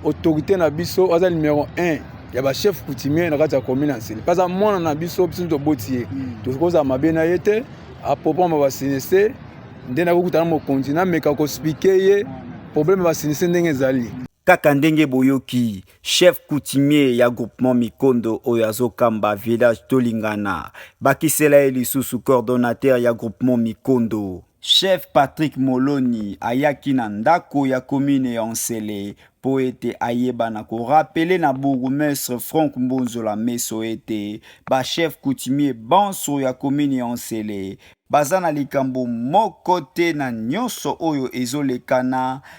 autorité na biso aza numéro 1 ya ba chef coutumier na kati ya commune ya nsele mpe aza mwana na biso biso toboti ye hmm. tokozala mabe na ye te apropama basinise nde nakokutana mokonzi nameka kospike ye problème basinise ndenge ezali kaka ndenge boyoki chef coutumier ya groupement mikondo oyo azokamba village tolingana bakisela ye lisusu coordonnateur ya groupement mikondo Chef Patrick Moloni ayaki na ndako ya commune ya Nsele mpo ete ayeba na ko rappeler na bourgmestre Franck Mbonzola Meso ete ba chefs coutumiers banso ya commune ya Nsele baza na likambo moko te na nionso oyo ezolekana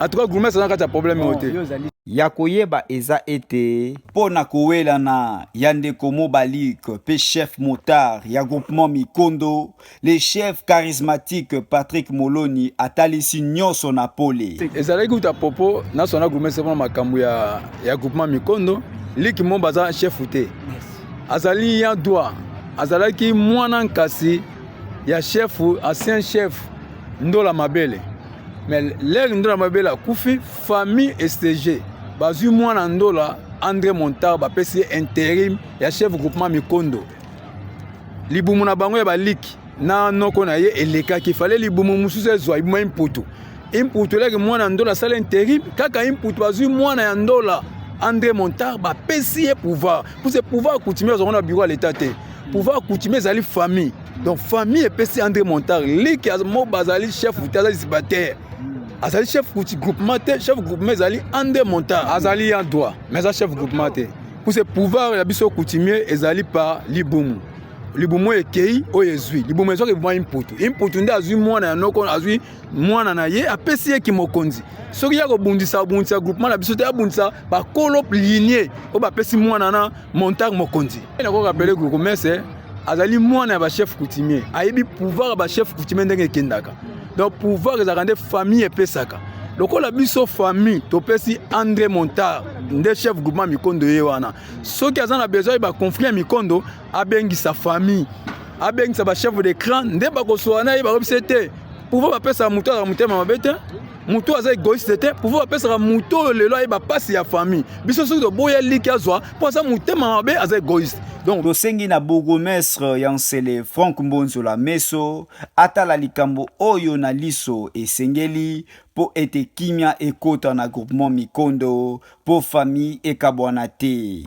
En tout cas, Gourmet, ça n'a pas problème. Oh, ya koyeba eza ete mpo na kowelana ya ndeko mobalik mpe chef motard ya groupement mikondo le chef charismatique patrick moloni atalisi nyonso na pole ezalaki kuta popo nasona grumese mpona makambo ya, ya groupement mikondo liki mo baza chefu te azali ya dwa azalaki mwana nkasi ya chefu ancien chef ndola mabele mais lere ndola mabele akufi famille estege bazwi mwana ndola andre montar bapesi ye interim ya chef groupement mikondo libumu na bango ya baliki na noko na ye elekaki fale libumu mosusu ezwa ibuma imputu imputu elaki mwana ya ndola asala interim kaka imputu bazwi mwana ya ndola andre montar bapesi ye pouvoir mpo se pouvoir coutumier azwango na bureau ya leta te pouvoir coutumier ezali famille donc famille epesi andre montar liki mo bazali chef te azali sibatere azali chef kuti groupement te chef groupement ezali andre montar azali ya droit mais aza chef groupement te puse pouvoir ya biso coutumier ezali par libumu libumu oyo ekei oyo ezwi libumu ezwaka ebuma imputu imputu nde azwi mwana ya noko azwi mwana na ye apesi ye kimokonzi soki ya kobundisa abundisa groupement na biso te abundisa bakolo linie oyo bapesi mwana na Montagne Mokonzi. Nakoki rappeler que Komese azali mwana ya ba chef coutumier. Ayebi pouvoir ya ba chef coutumier ndenge ekendaka. Donc pouvoir ezalaka nde famille epesaka. lokola biso famille topesi andre montar nde chef groupement mikondo ye wana soki aza na besoin ba conflit ya mikondo abengisa famille abengisa bachef de cran nde bakosola na ye bakobisa te pouvoir bapesa moto azala motema mabe te moto aza egoiste te pouvoir apesaka moto oyo lelo ayeba mpasi ya famille biso soki toboya liki azwa mpo aza motema mabe aza egoiste donc tosengi na bourgmestre ya nsele frank mbonzola meso atala likambo oyo na liso esengeli mpo ete kimya ekota na groupement mikondo mpo famille ekabwana te